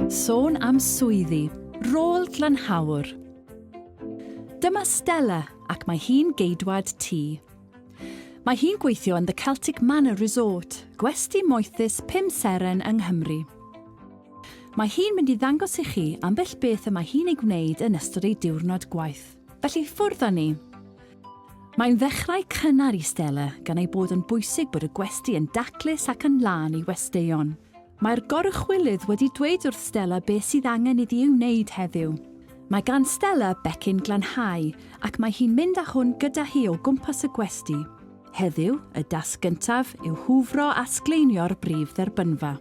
Sôn am swyddi, rôl glanhawr. Dyma Stella ac mae hi'n geidwad tŷ. Mae hi'n gweithio yn The Celtic Manor Resort, gwesty moethus pum seren yng Nghymru. Mae hi'n mynd i ddangos i chi ambell beth y mae hi'n ei gwneud yn ystod ei diwrnod gwaith. Felly ffwrdd â ni! Mae'n ddechrau cynnar i Stella, gan ei bod yn bwysig bod y gwesty yn daclus ac yn lân i westeion. Mae'r goruchwylydd wedi dweud wrth Stella beth sydd angen iddi ei wneud heddiw. Mae gan Stella becyn glanhau ac mae hi'n mynd â hwn gyda hi o gwmpas y gwesty. Heddiw, y dasg gyntaf yw hwfro a sgleinio'r brif dderbynfa.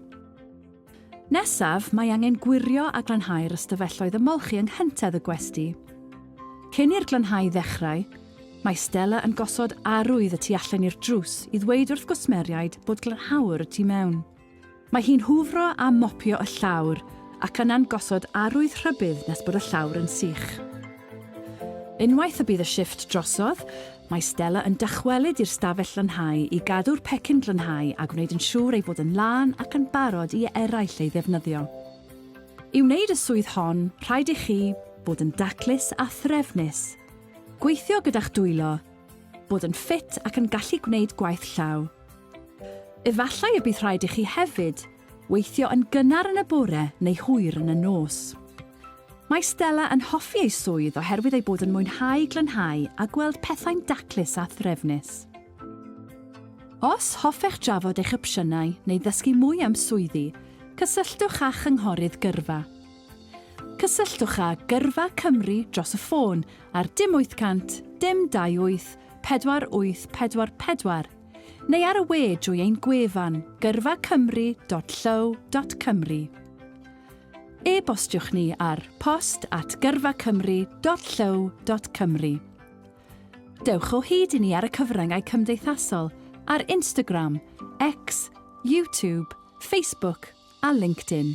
Nesaf, mae angen gwirio a glanhau'r ystafelloedd ymolchi yng nghyntedd y gwesty. Cyn i'r glanhau ddechrau, mae Stella yn gosod arwydd y tu allan i'r drws i ddweud wrth gwsmeriaid bod glanhau'r y tu mewn. Mae hi'n hwfro a mopio y llawr ac yna'n gosod arwydd rhybudd nes bod y llawr yn sych. Unwaith y bydd y shifft drosodd, Mae Stella yn dychwelyd i'r stafell lanhau i gadw'r pecyn glanhau a gwneud yn siŵr ei fod yn lân ac yn barod i eraill ei ddefnyddio. I wneud y swydd hon, rhaid i chi fod yn daclus a threfnus, gweithio gyda'ch dwylo, bod yn ffit ac yn gallu gwneud gwaith llaw. Efallai y bydd rhaid i chi hefyd Weithio yn gynnar yn y bore neu hwyr yn y nos. Mae Stella yn hoffi ei swydd oherwydd ei bod yn mwynhau glanhau a gweld pethau'n daclus a threfnus. Os hoffech drafod eich opsiynau neu ddysgu mwy am swyddi, cysylltwch â Chynghorydd Gyrfa. Cysylltwch â Gyrfa Cymru dros y ffôn ar dim 800 dim 28 48 44. neu ar y we drwy ein gwefan gyrfacymru.llyw.cymru. E-bostiwch ni ar post at gyrfacymru.llyw.cymru. Dewch o hyd i ni ar y cyfryngau cymdeithasol ar Instagram, X, YouTube, Facebook a LinkedIn.